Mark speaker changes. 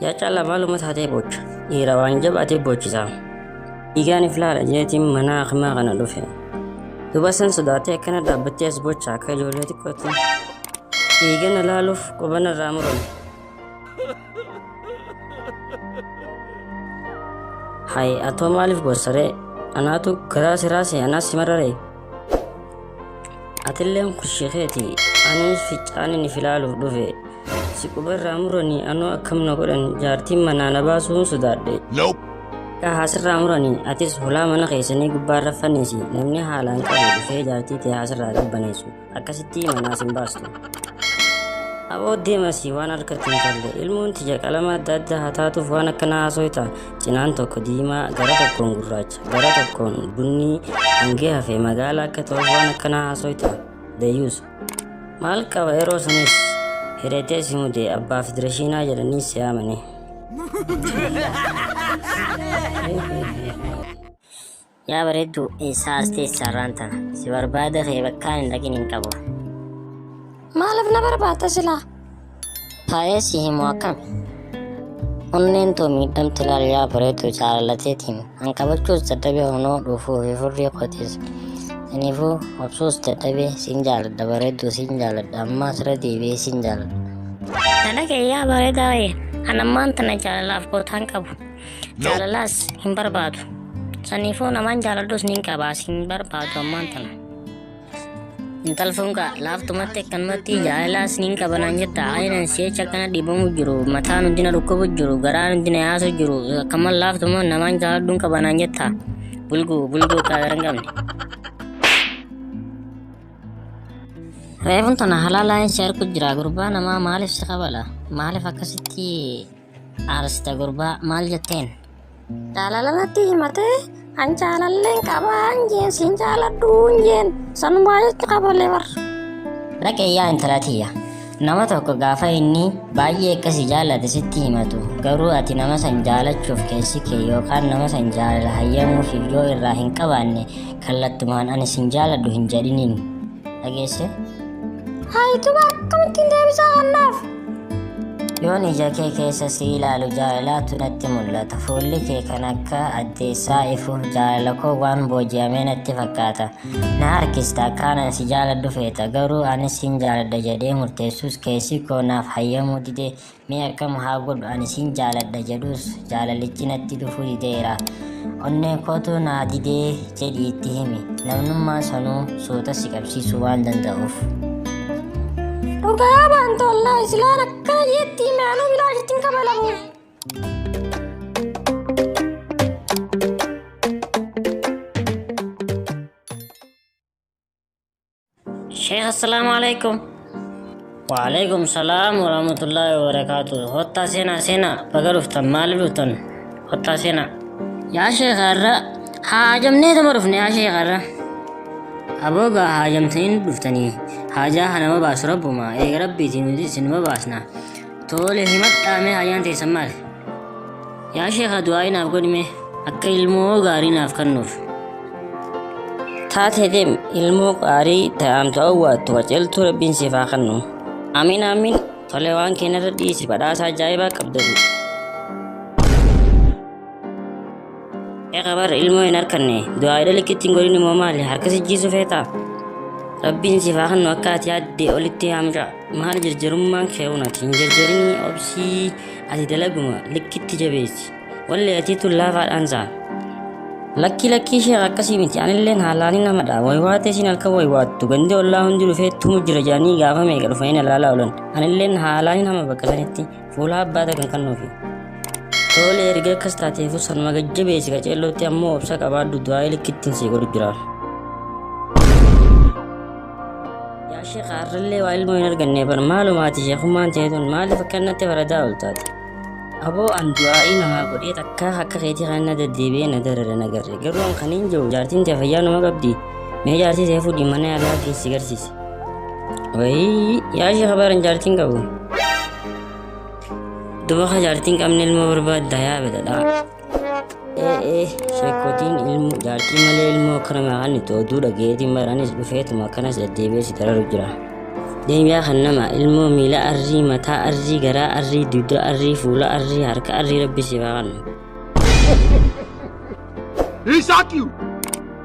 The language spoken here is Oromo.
Speaker 1: Yaa caalaa maaluma taatee boocha. Dhiira waan jabaatee boochisaa. Dhiigaaniif laala jeetiin mana hakimaa kana dhufe. Duba san sodaatee akkana dhaabbattee as boocha akka ijoollee xiqqootti. Dhiigana laaluuf qubana irraa murame. Hay atoo maaliif bossaree? Anaatu garaa siraa si anaas si mararee? Atilleen kushii keeti anis ficcaanin if ilaaluuf dhufe. Si qubarraa muranii anoo akkam na godhan jaartiin manaa na baasuun sodaadhe. Nope. Kaa sirraa muranii atis hulaa mana keessanii gubbaa raffanniisi namni haalaan qabu dhufee jaartii tee haasirraa qabbaneessu. Akkasitti manaas hin baastu. Aboo deemasi waan harkatti hin tolle ilmoon tiyya qalama adda addaa haa taatuuf waan akkanaa haasoyta cinaan tokko diimaa gara tokkoon gurraacha gara tokkoon bunnii hangee hafe magaala akka ta'uuf waan akkanaa haasoyta dayyuus maal qaba yeroo sanis hidhatee si mudee abbaa federeeshinaa jedhanii si yaamanii.
Speaker 2: Yaa bareedduu eessaa as teessaa irraan tana si barbaada kee bakkaan hin dhaqin hin qabu.
Speaker 3: Maaliif na barbaadda silaa? Taa'ee
Speaker 2: si himu akkami? Onneen too miidhamti laal yaa bareedduu jaalalateetiin an qabachuus dadhabee honoo dhuufuu fi furrii kootiis. Aniifuu obsuus dadhabee siin jaaladha bareedduu siin jaaladha ammaa sira deebi'ee siin jaaladha. Dalaga
Speaker 3: yaa bareedaa wayii an ammaan tana jaalalaaf gootaan qabu. Jaalalaas hin barbaadu. Saniifoo namaan jaaladhus nin qabaas hin barbaadu ammaan tana. Intal fungaa laaftumatti akkanumatti jaalalaas nin qabanaan jetta ayinan si'eecha akkana dhibamu jiru mataan hundi na dhukkubu jiru garaan hundi na yaasu jiru akkaman laaftuma namaan jaaladhuun qabanaan jetta bulguu bulguu kaadar hin qabne. Reefun tana halaalaan si arku jira gurbaa namaa maaliif si qabala maaliif akkasitti Arsta gurbaa maal jetteen? Jaalala natti himatee an jaalalleen qabaa hin jeen siin jaaladhu hin jeen sanumaa jecha qabalee bar. Dhaqee
Speaker 2: yaa intala tiyya. Nama tokko gaafa inni baay'ee akkasi jaallate sitti himatu garuu ati nama san jaalachuuf keessi kee yookaan nama san jaalala hayyamuufiif yoo irraa hin qabaanne kallattumaan ani sin jaaladhu hin jedhiniin. Dhageesse?
Speaker 3: Haayituba akkamittiin deebisaa hannaaf?
Speaker 2: Yoon ija kee keessa si ilaalu jaalalaatu natti mul'ata. Fuulli kee kan akka addeessaa ifu jaalala koo waan booji'amee natti fakkaata. Na harkista akkaanan si jaaladhu feeta garuu anis sin jaaladha jedhee murteessus keessi koo naaf hayyamuu dide mee akkam haa godhu ani sin jaaladha jedhus jaalalichi natti dhufuu dideera. Onnee kootu naa didee jedhii itti himi. Namnummaa sanuu suuta si qabsiisuu waan danda'uuf. Dhugaa
Speaker 3: baan tollaa islaan akkana jeetti imaanuu bilaa jettiin kabalamu.
Speaker 2: Sheekh assalaamu alaikum. Waalaikum salaam warahmatullahi wabarakaatu. Hottaa seenaa seenaa baga dhuftan maaliif dhuftan hottaa seenaa. Yaa sheekha irra haajamnee tuma dhufne yaa sheekha irra. Aboo gaa haajamtanii nu dhuftanii haajaa hanama baasu rabbuma eega rabbiitiin nuti isinuma baasna. Toole himadhaa mee haajaan teessan maali? Yaa sheekha du'aa'ii naaf godhi mee akka ilmoo gaarii naaf kennuuf. Taatee
Speaker 1: deem ilmoo gaarii ta'amtu awwaattu qajeeltu rabbiin siif haa kennu. Amiin amiin tole waan keenyarra dhiisi badhaasa ajaa'ibaa qabdan. Eeqa bara ilmoo hin harkanne du'aa'idha likkitti hin godhin immoo maali harka sijjiisu feetaa? Rabbiin siif haa kennu akka ati yaadde olitti haa mucaa. maal jirjirummaan keewun ati hin jirjirinii obsii ati dalaguma likkitti jabeessi wallee atii tun laafaadhaan saa lakkii lakkii ishee akkasii miti anilleen haalaanii namadha waywaatee siin halkan waywaattu gandi ollaa hundi dhufee tumu jira jedhanii gaafa meeqa dhufanii na laalaa oolan anilleen haalaanii nama bakka sanitti Fuula abbaa tagan kan nuufi. Tole erga akkas taateefuu sanuma gajjabeessi qaceellootti ammoo obsa qabaadhu du'aa ilikittiin sii godhu jira. Yaa sheekha har'allee waa ilmoo hin arganne bar maalumaati sheekummaan teetuun maaliif akkanatti faradaa ol taate. Aboo an du'aa'ii namaa godhee takkaa akka keetii kan na deddeebi'ee na darare na garre garuu an kan hin jiru jaartiin tee fayyaa numa qabdi mee jaartii tee fuudhii mana yaalaa keessi garsiise. Wayii yaa sheekha baran jaartiin qabu. Duba ka jaartiin qabne ilmoo barbaadda yaa bedadhaa. Ee ee sheekotiin ilmoo jaartii malee ilmoo akkana maqaan itti oduu dhageetiin baranis dhufeetuma akkanas deddeebi'ee si dararu jira. Deebi'aa kan nama ilmoo miila arrii mataa arrii garaa arrii dugda arrii fuula arrii harka arrii rabbi si baaqanna. Isaakiyu!